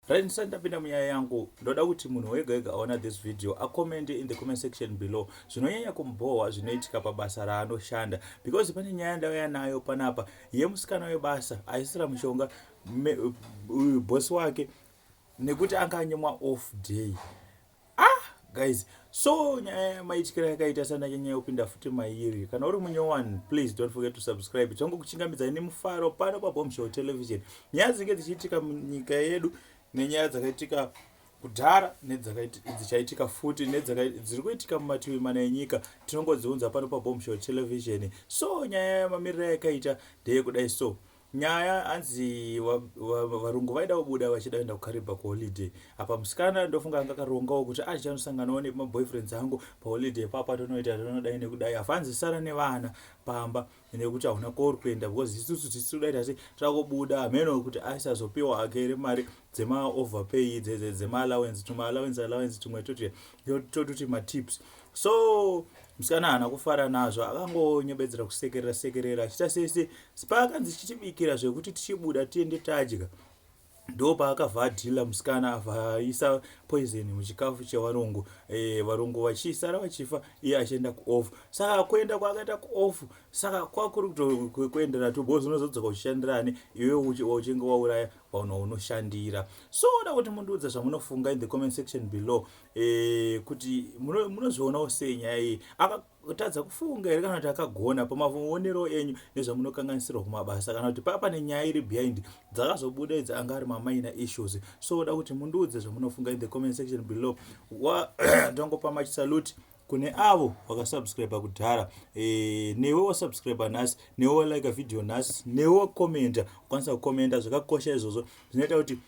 Right, ndisati ndapinda munyaya yangu ndoda kuti munhu wega wega aona this video acommende in the comment section below zvinonyanya kumubhohwa zvinoitika pabasa raanoshanda because pane nyaya yandauya nayo panapa yemusikana webasa aisira mushonga bhosi wake nekuti anga anyimwa off day ah guys so nyaya yamaityira yakaita sana nyanya yopinda futi mairi kana uri munyowani please don't forget to subscribe changu kuchingamidzai nemufaro pano pabombshell television nyaya dzinge dzichiitika munyika yedu nenyaya dzakaitika kudhara nedzakaitika futi nedziri kuitika mumativi mana enyika tinongodziunza pano pabombshell television so nyaya yamamirira yakaita ndeyekudai so Nyaya hanzi varungu vaida kubuda vachida kuenda kukaribha kuholiday apa musikana ndofunga anga akarongawo kuti acha anosanganawo nemaboyfriends angu paholiday papa tonoita tonodai nekudai apa hanzi sara nevana pamba nekuti hauna kori kuenda because isusu tisi toda ita sei takubuda hameno kuti aisazopiwa ake here mari dzemaoverpay dzemaallowance tumwe allowance allowance tumwe toti tototi matips so musikana haana kufara nazvo akangonyebedzera kusekerera sekerera achiita sese paakanzi chitibikira zvekuti tichibuda tiende tadya ndo paakabva adhila musikana avaisa poison muchikafu chevarungu e, varungu vachisara vachifa iye achienda kuoff saka kuenda kwaakaita kuoff saka kwakuri kutokuendera tu bos unozodzoka uchishandirani iwe uchinge wauraya vanhu unoshandira so oda kuti mundiudza zvamunofunga in the comment section below eh, kuti munozvionawo sei nyaya iyi akatadza kufunga here kana kuti akagona pamavoonero enyu nezvamunokanganisirwa kumabasa kana kuti papa nenyaya iri behind dzakazobuda idzi anga ari mamaina issues so oda kuti mundiudze zvamunofunga in the comment section below ndangopa machisalute kune avo vakasubscribe kudhara e, newe wasubscribe nhasi newe walike video nhasi newe wakomenta ukwanisa kukomenta zvakakosha izvozvo zvinoita kuti